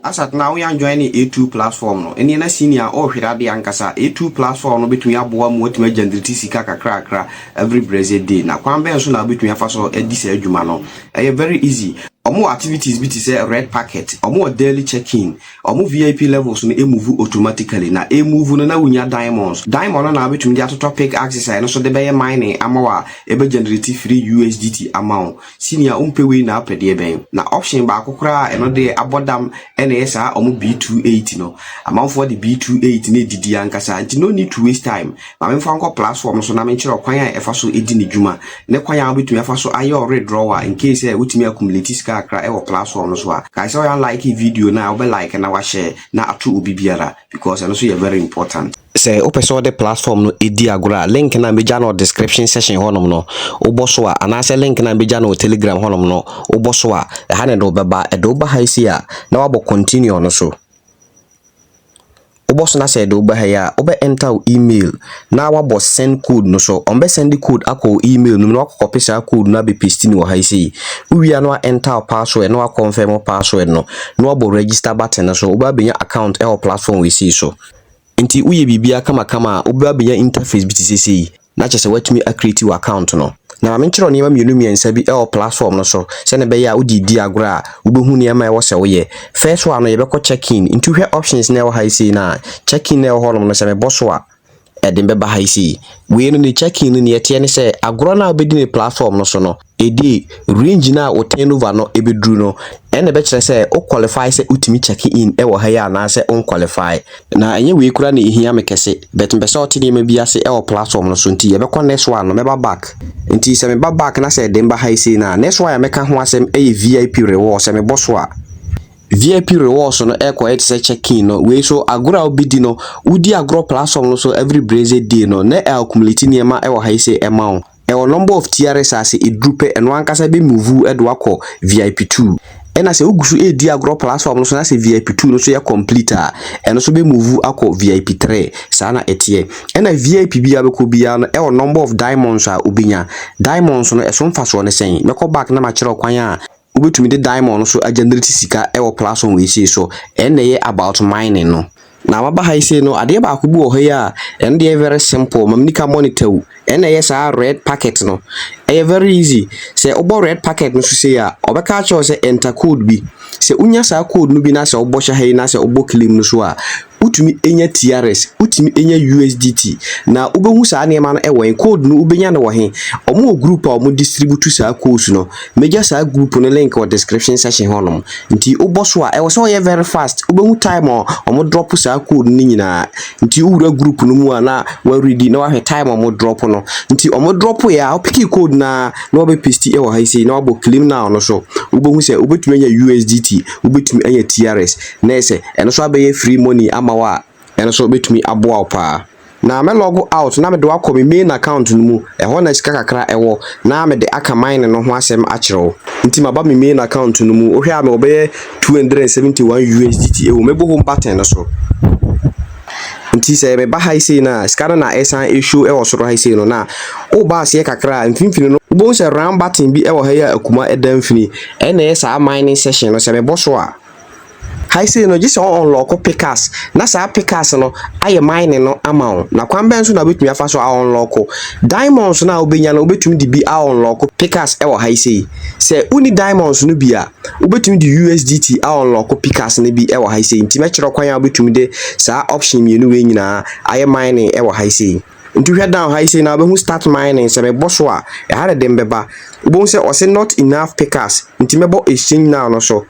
Asat na woyan joine A2 platform no ɛneɛ na senior a ɔɔhwere adeɛ ankasa A2 platform no bɛtumi aboa mo atumi agenerate sika kakrakra every brɛsɛ day na kwan bɛn so na wobɛtumi afa so adi saa adwuma no ɛyɛ very easy ɔmo wɔ activities bi te sɛ red packet ɔmo wɔ daily check in ɔmo vip levels no move automatically na ɛmove no na wonya diamonds diamond no na wobɛtumi de atotɔ pick axes a ɛno so de bɛyɛ mining ama wo a ɛbɛ generate free usdt ama wo Senior wompɛ wei na wopɛ deɛ bɛn? Na option baako koraa a ɛno deɛ abɔ dam na ɛyɛ saa ɔmo B28 no. Amanfoɔ de B28 no adidi ankasa nti no need to waste time. Ma memfa wo nkɔ platform no so na menkyerɛ wo kwan a ɛfa so di ne dwuma ne kwan a wobɛtumi afa so ayɛ wo withdrawal a incase sɛ wotumi accumulate sika kakra wɔ platform no so a. Kae sɛ woyɛ unlike video no a wobɛ like na woahyɛ na ato obi biara because ɛno nso yɛ very important. Sɛ wopɛ sɛ wode platform no di agorɔ a, link no a mɛgya no wɔ description section hɔnom no, wobɔ so a, anaasɛ link no a mɛgya no wɔ telegram hɔnom no, wobɔ so a, ɛha na ɛde wo bɛba. Ɛde wo ba ha yi sei a, na woabɔ continue no so. Wobɔ so na sɛ ɛde wo ba ha yi a, wobɛ enter wo email na woabɔ send code no so. Wɔbɛ send code akɔ wo email no mu na woakɔkɔpe saa code no abɛ paste no wɔ ha yi sei. Wowie a na wa enter wo password na wa confirm wo password no na woabɔ register button no so. Wobɛ abɛnya account wɔ platform wei sei so. Nti woyɛ biribiara kamakama a wobɛba abɛnya interface bi te sɛ sei na kyerɛ sɛ woatumi a create wo account no. Na ma menkyerɛ wo nneɛma mmienu mmiɛnsa bi wɔ platform no so sɛnea ɛbɛyɛ a wode redi agorɔ a wobɛhu nneɛma a ɛwɔ sɛ woyɛ. First one no yɛbɛkɔ check in nti wohwɛ options no a ɛwɔ ha yi sei no a, check in no a ɛwɔ hɔnom no sɛ mebɔ so a ɛde me bɛba ha yi sei. Wei no ne check in no nea ɛteɛ ne sɛ agorɔ no a wobɛdi no platform no so no, Edi range no a wo turnover no bɛduru no, ɛnna ɛbɛkyerɛ sɛ wo qualify sɛ wotumi check in wɔ ha yi anaasɛ wo nqualify. Na ɛnyɛ wei koraa na ɛhia me kɛse, but mepɛ sɛ ɔte nneɛma bi ase wɔ platform no so, nti yɛbɛkɔ next one no, mɛba back. Nti sɛ meba back na sɛ ɛde me ba ha yi sei no a, next one a mɛka ho asɛm yɛ VIP rewards, sɛ mebɔ so a. VIP rewards no rekɔyɛ te sɛ check in no, wei nso agorɔ a wobɛdi no, wodi agorɔ platform no so every blessed day no, na ɛaccumulate nneɛma wɔ ha yi sei ma wo. Ɛwɔ number of TRS a sɛ ɛduru pɛ ɛno ankasa bɛ move de wo akɔ VIP two. Ɛna sɛ wogu so redi agorɔ platform no so na sɛ VIP two no nso yɛ complete a, ɛno nso bɛ move akɔ VIP three. Saa na ɛteɛ. Ɛna VIP biara wobɛkɔ biara no ɛwɔ number of diamonds a wobɛnya. Diamonds no ɛso mfasoɔ ne sɛn? Mɛkɔ back na makyerɛ wo kwan a wobɛtumi de diamond nso agenerate sika wɔ platform wei sei so ɛno na ɛyɛ about mining no na maba ha yi sei no adeɛ baako bi wɔ hɔ yi a ɛno deɛ very simple ma menika monitor wu ɛno na ɛyɛ saa red packet no ɛyɛ very easy sɛ wobɔ red packet no so sei a ɔbɛka akyerɛ wo sɛ enter code bi sɛ wonya saa code no bi na sɛ wobɔ hyɛ ha yi na sɛ wobɔ claim no so a wotumi nya TRS, wotumi nya USDT, na wobɛhu saa nneɛma no wɔ he? Code no wobɛnya no wɔ he? Wɔn wɔ group a wɔn distribute saa codes no. Mɛgya saa group no link wɔ description section hɔnom. Nti wobɔ so a, ɛwɔ sɛ ɔyɛ very fast. Wobɛhu time a wɔn drop saa code no nyinaa. Nti wowura group no mu a na wɔaredi na wahwɛ time a wɔn drop no. Nti wɔn drop yɛ a, wopiki code no a na wɔbɛ paste wɔ ha yi sei na wabɔ claim now no so. Wobɛhu sɛ wobɛtumi anya USDT, wobɛtumi anya TRS. na ese ɛno nso abɛyɛ free money ama wo a, ɛno nso bɛtumi aboa wo paa. Na mɛ log out na mede wo akɔ me main account no mu, ɛhɔ na sika kakra ɛwɔ, na mede aka mining no ho asɛm akyerɛ wo. Nti maba me main account no mu, wohwɛ a mewɔ bɛyɛ two hundred and seventy one USDT ɛwɔ mu, mɛbɔ home button no so. Nti sɛ meba ha yi sei no a, sika no na ɛsan ɛshow ɛwɔ soro ha yi sei no, na woba aseɛ kakra a, mfimfini no, wobɛhu sɛ round button bi ɛwɔ ha yi a akuma ɛda mfini, ɛna ɛyɛ saa mining session no, sɛ mebɔ so a, Ha yi sei no, gye sɛ wo unlock pickaxe na saa pickaxe no ayɛ mining no ama wo. Na kwan bɛn so na wobɛtumi afa so a unlock diamonds no a wobɛnya no, wobɛtumi de bi a unlock pickaxe wɔ ha yi sei. Sɛ wonni diamonds no bi a, wobɛtumi de USDT a unlock pickaxe no bi wɔ ha yi sei. Nti mɛkyerɛ kwan a wobɛtumi de saa option mmienu wei nyinaa ayɛ mining wɔ ha yi sei. Nti hwɛ down ha yi sei na wobɛhu start mining. Sɛ mebɔ so a, ɛha na ɛde mbɛba. Wobɛhu sɛ ɔse not enough pickaxe. Nti mɛbɔ exchange now no so.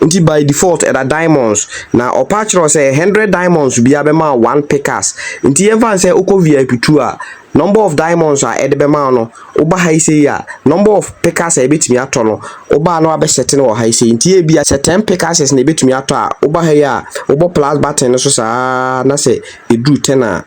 Ntsi by default ɛda diamonds. Na ɔpa kyerɛ wo sɛ hundred diamonds biara bɛma wo one pickaxe. Ntsi yɛmfa no sɛ wokɔ vip two a, number of diamonds a ɛde bɛma wo no, woba ha yi sei a, number of pickaxe a ebetumi atɔ no, woba a na wɔabɛ set no wɔ ha yi sei. Ntsi ebi a sɛ ten pickaxes na ebetumi atɔ a, woba ha yi a, wobɔ plus button no so saa na sɛ edu ten a,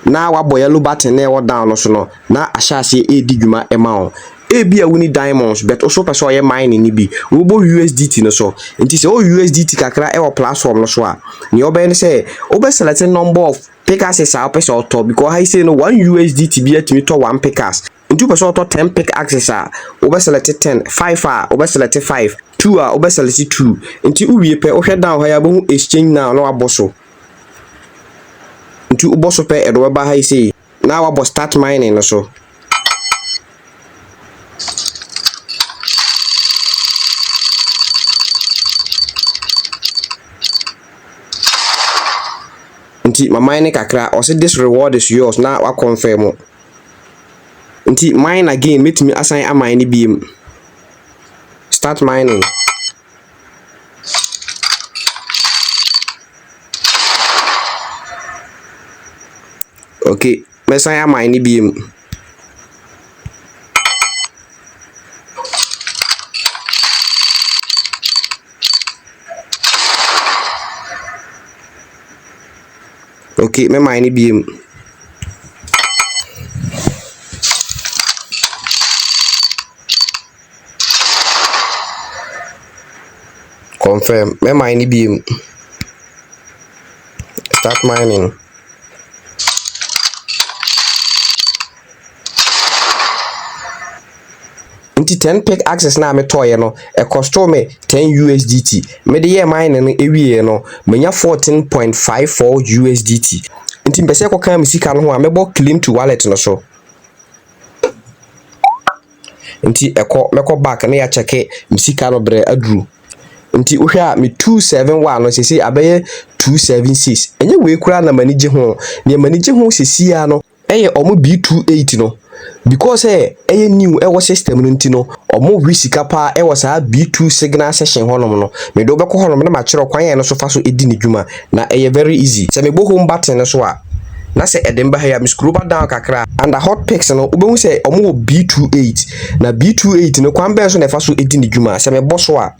na wabɔ yellow button na ɛwɔ down no so no, na ahyɛ aseɛ redi dwuma ma wo. Ebia wo ni diamonds but nso wopɛ sɛ ɔyɛ mining no bi. Wobɔ USDT no so. Nti sɛ ɔwɔ USDT kakra wɔ platform no so a, nea ɔbɛyɛ ne sɛ wobɛ select number of pickaxes a wopɛ sɛ ɔtɔ because ha yi sei no one USDT bi atumi tɔ one pickaxe. Nti wopɛ sɛ ɔtɔ ten pick axes a, wobɛ select ten, five a wobɛ select five, two a wobɛ select two. Nti wowie pɛ wohwɛ down ha yi a wobɛhu exchange now na wabɔ so. Nti wobɔ so pɛ ɛde wobɛba ha yi sei na wabɔ start mining no so. Nti ma mine kakra, ɔse this reward is yours na wakɔnfɛmo. Nti mine again mɛtumi asan amine no biem. Start mining. Okay, mɛsan amine no biem. Ok me mae no biom. Confirm me mae no biom. Start mining. Nti ten pick axes no a metɔeɛ no, ɛkɔstoo me ten USDT. Mede yɛɛ mining no wieeɛ no, manya fourteen point five four USDT. Nti mepɛ sɛ ɛkɔka me sika no ho a, mɛbɔ claim to wallet no so. Nti ɛkɔ, mɛkɔ back na yɛakyɛke me sika no berɛ aduru. Nti wohwɛ a me two seven one no sese abɛyɛ two seven six. Ɛnyɛ wei koraa na m'ani gye ho. Deɛ m'ani gye ho sesie ara no, Ɛyɛ ɔmo B two eight no because sɛ ɛyɛ new ɛwɔ system no nti no ɔmo we sika paa ɛwɔ saa B two signal section hɔ nom no mede wo bɛkɔ hɔ nom na makyerɛ wo kwan a ɛno so fa so ɛdi ne dwuma na ɛyɛ very easy sɛ mebɔ home button no so a na sɛ ɛde me ba ha yi a me scroba down kakra a under hot picks no wobɛhu sɛ ɔmo wɔ B two eight na B two eight no kwan bɛn so na ɛfa so ɛdi ne dwuma sɛ mebɔ so a.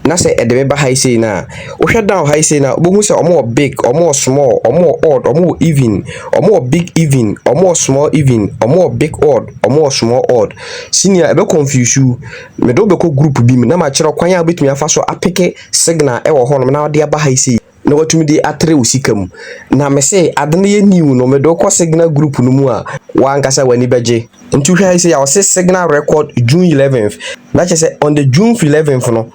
Na sɛ ɛde me ba ha yi sei no a, wohwɛ down ha yi sei no a, wobɛhu sɛ wɔwɔ big, wɔwɔ small, wɔwɔ odd, wɔwɔ even, wɔwɔ big even, wɔwɔ small even, wɔwɔ big odd, wɔwɔ small odd. Senior, ɛbɛ confuse wo. Mede wo bɛkɔ group bi mu na makyerɛ wo kwan a wobɛtumi afa so apeke signal wɔ hɔnom na wode aba ha yi sei. na watumi de atere wo sika mu. Na me se ade no yɛ new no, mede wo kɔ Signal group no mu a, wo ankasa w'ani bɛgye. Nti wohwɛ ha yi sei a, wɔse Signal record June eleventh. Na kyerɛ sɛ on the June eleventh no,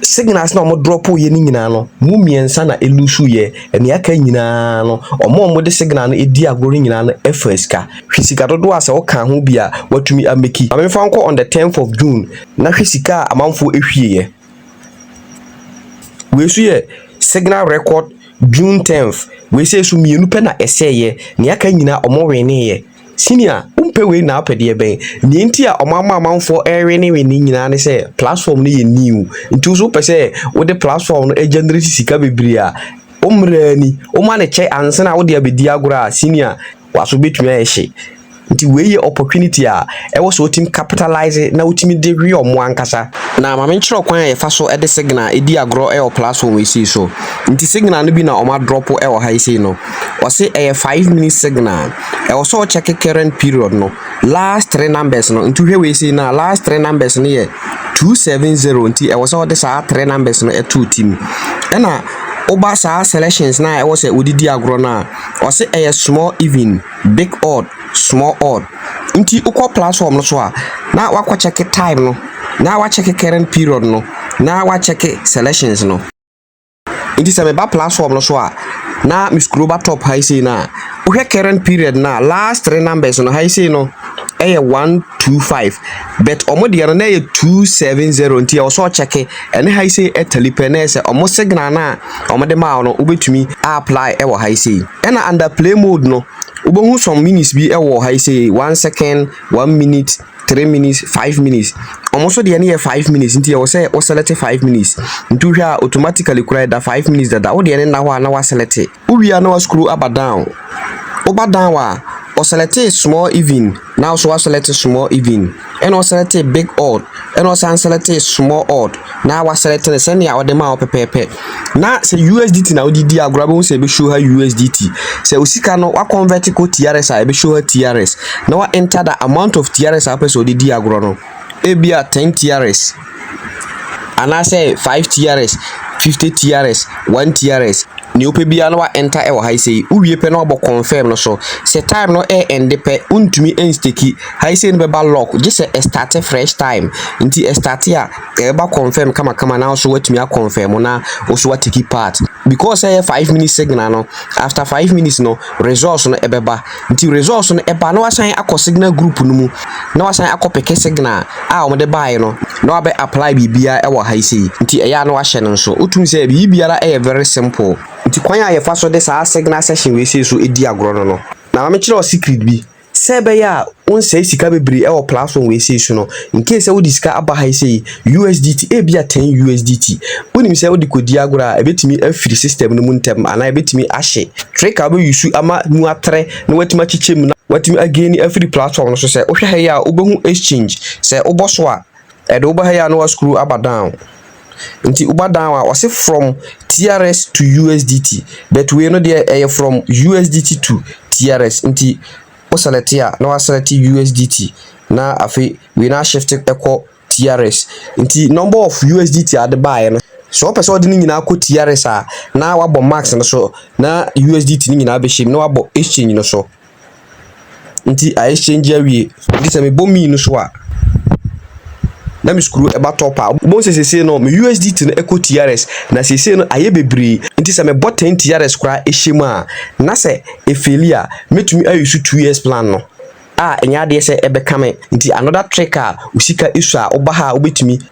signals na wɔn drop yɛ no nyinaa no, mu mmiɛnsa na elusu yɛ. Nea aka nyinaa no, wɔn a wɔde signal no edi agorɔ no nyinaa no faa sika. Hwɛ sika dodoɔ a sɛ woka ho bi a, watumi ameki. Ma memfa wo nkɔ on the tenth of June, na hwɛ sika a amanfoɔ ehwieɛ. Wei nso yɛ signal record June tenth. Wei sei nso mmienu pɛ na ɛsɛeɛ. Nea aka nyinaa wɔweneeɛ. Senior, wompɛ wei na wopɛ deɛ bɛn? Nea nti a wɔama amanfoɔ rewenewene nyinaa ne sɛ platform no yɛ new. Nti wo nso wopɛ sɛ wode platform no generate sika bebree a, wo mmara ni. Woma no kyɛ ansa na wode abɛdi agorɔ a, senior, W'aso bɛtumi ayɛ hye. Nti wei yɛ opportunity a ɛwɔ sɛ wotumi capitalise na wotumi de hwe ɔmo ankasa. Na ma me nkyerɛ ɔkwan a yɛfa so de signal di agorɔ wɔ platform yi sei so. Nti signal no bi na ɔmo adrɔpo wɔ ha yi sei no. Ɔse ɛyɛ five minutes signal. Ɛwɔ sɛ wo check current period no last three numbers no. Nti wohwɛ wei sei no a last three numbers no yɛ two seven zero. Nti ɛwɔ sɛ wode saa three numbers no to wo ti mu. Ɛna woba saa selections no a ɛwɔ sɛ wode di agorɔ no a, Ɔse ɛyɛ small even, big odd, small odd nti wokɔ platform no so a na wakɔ check time no na wa check current period no na wa check selections no nti sɛ meba platform no so a na me scroll ba top ha yi sei no a wohwɛ current period no a last three numbers no ha yi sei no ɛyɛ one two five but wɔn deɛ no na ɛyɛ two seven zero nti ɛwɔ sɛ ɔkyɛke Ɛne ha yi sei tali pɛ na ɛyɛ sɛ ɔmo signal no a ɔmo de maa wo no wobɛtumi a apply ɛwɔ ha yi sei. Ɛna under play mode no wobɛhu some minutes bi ɛwɔ ha yi sei, one second, one minute, three minutes, five minutes. Ɔmo nso deɛ no yɛ five minutes nti ɛwɔ sɛ wo select five minutes. Nti wohwɛ a automatically koraa ɛda five minutes dada, wo deɛ no nna hɔ a na wa select. Wo wia na wa scroll aba down. Wo ba down a, ɔ selectee small even na wo so wa select small even, ɛna ɔ selectee big odd ɛna ɔ san selectee small odd na wa select no sɛnea ɔde maa wo pɛpɛɛpɛ. Na sɛ USDT na wode di agorɔ a wobɛhu sɛ ɛbɛ show ha USDT. Sɛ wo sika no wa convert kɔ TRS a ɛbɛ show ha TRS na wa enter the amount of TRS a wopɛ sɛ ɔde di agorɔ no, ebia 10 TRS. Anaasɛ five TRS, fifty TRS, one TRS, nea wopɛ biara na wa enter wɔ ha yi sei. Wowie pɛ na wabɔ confirm no so. Sɛ time no ɛ ɛnde pɛ, wontumi nsteki. Ha yi sei no bɛba lock gye sɛ ɛ start fresh time. Nti ɛ start a, ɛbɛba confirm kamakama na wo nso woatumi a confirm na wo nso woateki part. Because sɛ ɛyɛ five minutes signal no, after five minutes no results no ɛbɛba. Nti results no ɛba na wasan akɔ signal group no mu na wasan akɔ peke signal a wɔn de baeɛ no na wabɛ apply biribiara ɛwɔ ha yi sei. Nti ɛyɛ a na wahyɛ no nso. Wotum sɛ biribiara ɛyɛ very simple. Nti kwan a yɛfa so de saa signal section wei sei so di agorɔ no no, na ma me kyerɛ wo secret bi. Sɛ ɛbɛyɛ a wonsɛe sika bebree wɔ platform wei sei so no, in case sɛ wode sika aba ha yi sei, USDT, ebia 10 USDT, wonim sɛ wode kɔdi agorɔ a, ɛbɛtumi afiri system no mu ntɛm anaa ɛbɛtumi ahye. Trick a wobɛuse ama mu atrɛ na woatumi akyekyɛ mu na woatumi againi afiri platform no so sɛ, wohwɛ ha yi a wobɛhu exchange, sɛ wobɔ so a, Ɛde wo ba ha yi a na wascrew aba down nti woba down a ɔse from TRS to USDT but wei no deɛ ɛyɛ from USDT to TRS nti wo select a na wa select USDT na afei wei na shift ɛkɔ TRS nti number of USDT a de baeɛ no sɛ wɔpɛ sɛ wɔde ne nyinaa kɔ TRS a na wabɔ max no so na USDT no nyinaa bɛhyɛ mu na wabɔ exchange no so. Nti I exchange awie. Nti sɛ mebɔ mii no so a, na me sukuu ɛba top a. Wobɛhu sɛ seesei no me USDT no ɛkɔ TRS na seesei no ayɛ bebree. Nti sɛ mebɔ ten TRS koraa ɛhyɛ mu a, na sɛ ɛfeeli a, mɛtumi a use two years plan no a ɛnyɛ adeɛ sɛ ɛbɛka me. Nti another trick a wo sika ɛsua a, woba ha a wobɛtumi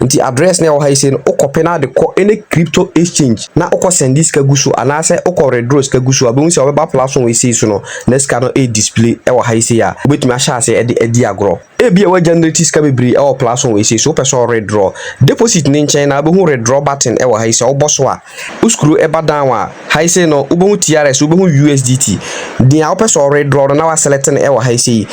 Nti address no a ɛwɔ ha yi sei no wo copy na de kɔ any crypto exchange na wo kɔ send sika gu so anaasɛ wo kɔ withdraw sika gu so a wobɛhu sɛ wɔbɛba platform wei sei so no na sika no ɛyɛ display ɛwɔ ha yi sei a wobɛtumi ahyɛ ase ɛde adi agorɔ. Ebi a wɔagenerate sika bebree ɛwɔ platform wei sei so wopɛ sɛ wo withdraw deposit no nkyɛn na wobɛhu withdraw button ɛwɔ ha yi sɛ wobɔ so a Wo skru ba down a, ha yi sei no wobɛhu TRS, wobɛhu USDT. Dea wopɛ sɛ ɔre draw no na wa select no wɔ ha yi sei.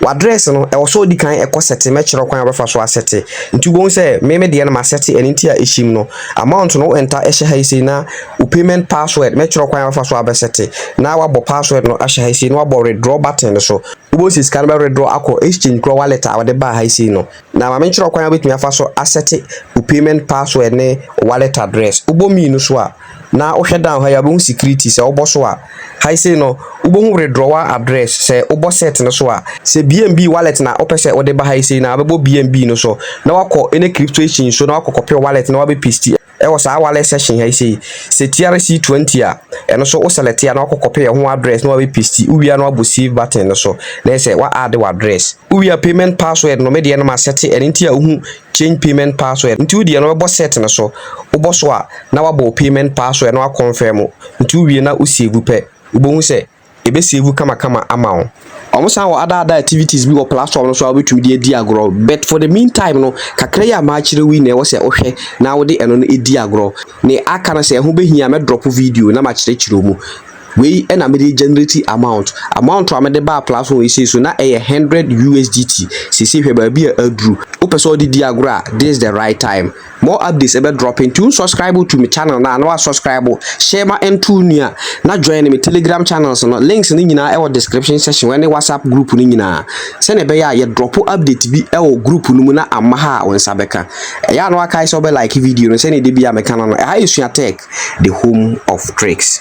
W'address no ɛwɔ sɛ odi kan ɛkɔ setting, mɛkyerɛ wo kwan a wobɛfa so a sete. Nti wobɛhu sɛ me me deɛ no ma sete ɛno nti a ɛhyem no. Amount no wo enter hyɛ ha yi sei na wo payment password mɛkyerɛ wo kwan a wobɛfa so a bɛ sete. Na wabɔ password no ahyɛ ha yi sei na wabɔ redraw button no so. Wobɛhu sɛ sika no bɛ redraw akɔ exchange kura wallet a wɔde baa ha yi sei no. Na ma menkyerɛ wo kwan a wobɛtumi afa so asɛte wo payment password ne wo wallet address. Wobɔ mmienu so a, na wohwɛ down ha yi a, wobɛhu security. Sɛ wobɔ so a, ha yi sei no, wobɛhu withdrawal address. Sɛ wobɔ set no so a, sɛ BNB wallet na wopɛ sɛ wode ba ha yi sei no a, wobɛbɔ BNB no so na woakɔ any crypto exchange so na woakɔ copy wo wallet na woabɛ paste. Ɛwɔ saa wallet section ha yi sei, sɛ TRC 20 a, ɛno nso wo select a na wakɔ copy ɛho address na wabɛ paste, wowie a na wabɔ save button no so na ɛyɛ sɛ wa add w'address. Wowie a payment password no me deɛ no ma set ɛno nti a wohu change payment password nti wo deɛ no wobɛbɔ set no so, wobɔ so a na wabɔ wo payment password na wa confirm nti wowie na wo save pɛ wobɛhu sɛ yɛbɛsave wo kamakama ama wo. Wɔn san wɔ other other activities bi wɔ platform no so a wobɛtumi de adi agorɔ but for the mean time no kakra yi a makyerɛ wo yi na ɛwɔ sɛ wohwɛ na wode ɛno no di agorɔ. Ne aka no sɛ ɛho bɛhia a mɛdrɔpo video na makyerɛkyerɛ wo mu. Wei na mede generate amount. Amount a mede baa platform yi sei so na ɛyɛ hundred USDT. Seesei hwɛ baabi a aduru. Wopɛ sɛ wode di agorɔ a this is the right time. More updates ɛbɛ drop nti wo subscribe to me channel na na wa subscribe share ma ɛnto nua na join me telegram channels no links no nyinaa ɛwɔ description section wɔ ɛne whatsapp group no nyinaa sɛnea ɛbɛyɛ a yɛ drop update bi ɛwɔ group no mu na amma ha a wo nsa bɛka ɛyɛ a na wakae sɛ wobɛ like video no sɛnea ɛde bi a mɛka no no ɛha yɛ sua tech the home of tricks.